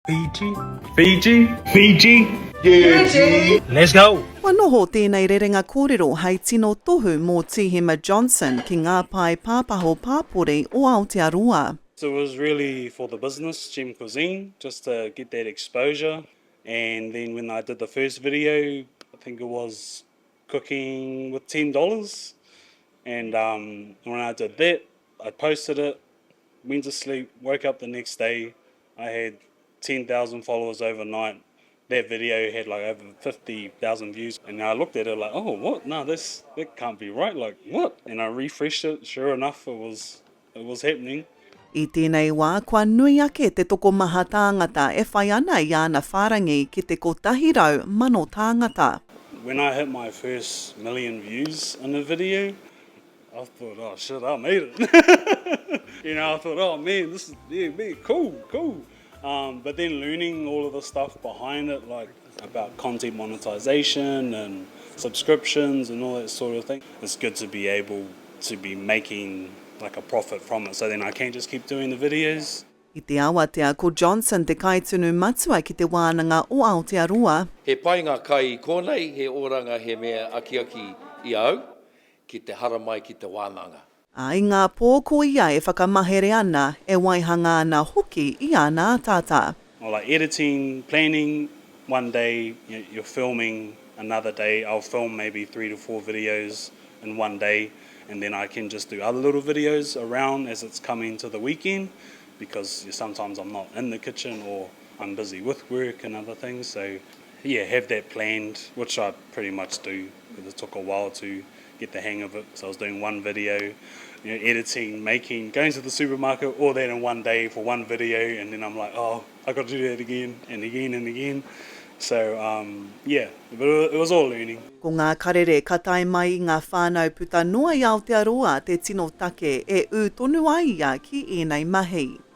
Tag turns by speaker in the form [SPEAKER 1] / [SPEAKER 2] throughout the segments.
[SPEAKER 1] Fiji. Fiji. Fiji. Fiji. Let's go! Kua noho tēnei
[SPEAKER 2] rerenga kōrero hei tino tohu mō Tīhema Johnson ki ngā pae pāpaho pāpori o Aotearoa. It was really
[SPEAKER 3] for the business, Gem Cuisine, just to get that exposure and then when I did the first video I think it was cooking with ten dollars and um when I did that I posted it, went to sleep, woke up the next day I had 10,000 followers overnight, that video had like over 50,000 views and I looked at it like oh what no this that can't be right like what and I refreshed it sure enough it was it was happening. I tēnei
[SPEAKER 2] wā kua nui ake te tokomaha tāngata e whai ana i āna whārangi ki te kotahi rau mano tāngata. When I hit
[SPEAKER 3] my first million views in a video, I thought, oh shit, I made it. you know, I thought, oh man, this is yeah, man, cool, cool. Um, but then learning all of the stuff behind it, like about content monetization and subscriptions and all that sort of thing, it's good to be able to be making like a profit from it. So then I can just keep doing the videos. I te awatea
[SPEAKER 2] ko Johnson te kaitunu matua ki te wānanga o Aotearoa. He pai ngā kai
[SPEAKER 4] i kōnei, he oranga he mea akiaki i a au. Ki te haramai ki te wānanga. Ā, i ngā pō
[SPEAKER 2] ko ia e whakamahere ana, e waihanga ana hoki i āna ataata. Or like editing,
[SPEAKER 3] planning, one day you're filming another day I'll film maybe three to four videos in one day and then I can just do other little videos around as it's coming to the weekend because sometimes I'm not in the kitchen or I'm busy with work and other things so Yeah, have that planned, which I pretty much do, but it took a while to get the hang of it, because I was doing one video, you know, editing, making, going to the supermarket, all that in one day for one video, and then I'm like, oh, I've got to do that again, and again, and again. So, um, yeah, but it was all learning. Ko ngā karere
[SPEAKER 2] ka tae mai i ngā whānau puta noa i Aotearoa te tino take e ū tonu ai ia ki ēnei mahi.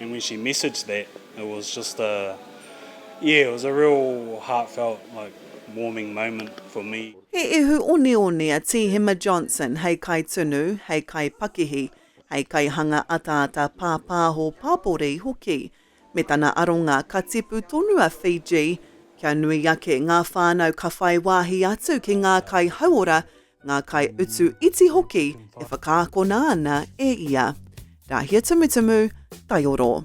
[SPEAKER 3] and when she messaged that it was just a yeah it was a real heartfelt like warming moment for me. He ihu oneone
[SPEAKER 2] a Tīhema Johnson hei kaitunu, hei kaipakihi, hei kaihanga ataata pāpāho pāpori hoki. Me tana aronga ka tipu tonu a Fiji kia nui ake ngā whānau ka whai wāhi atu ki ngā kai hauora ngā kaiutu iti hoki e whakaakona ana e ia. Rāhia Tumutumu, Taioro.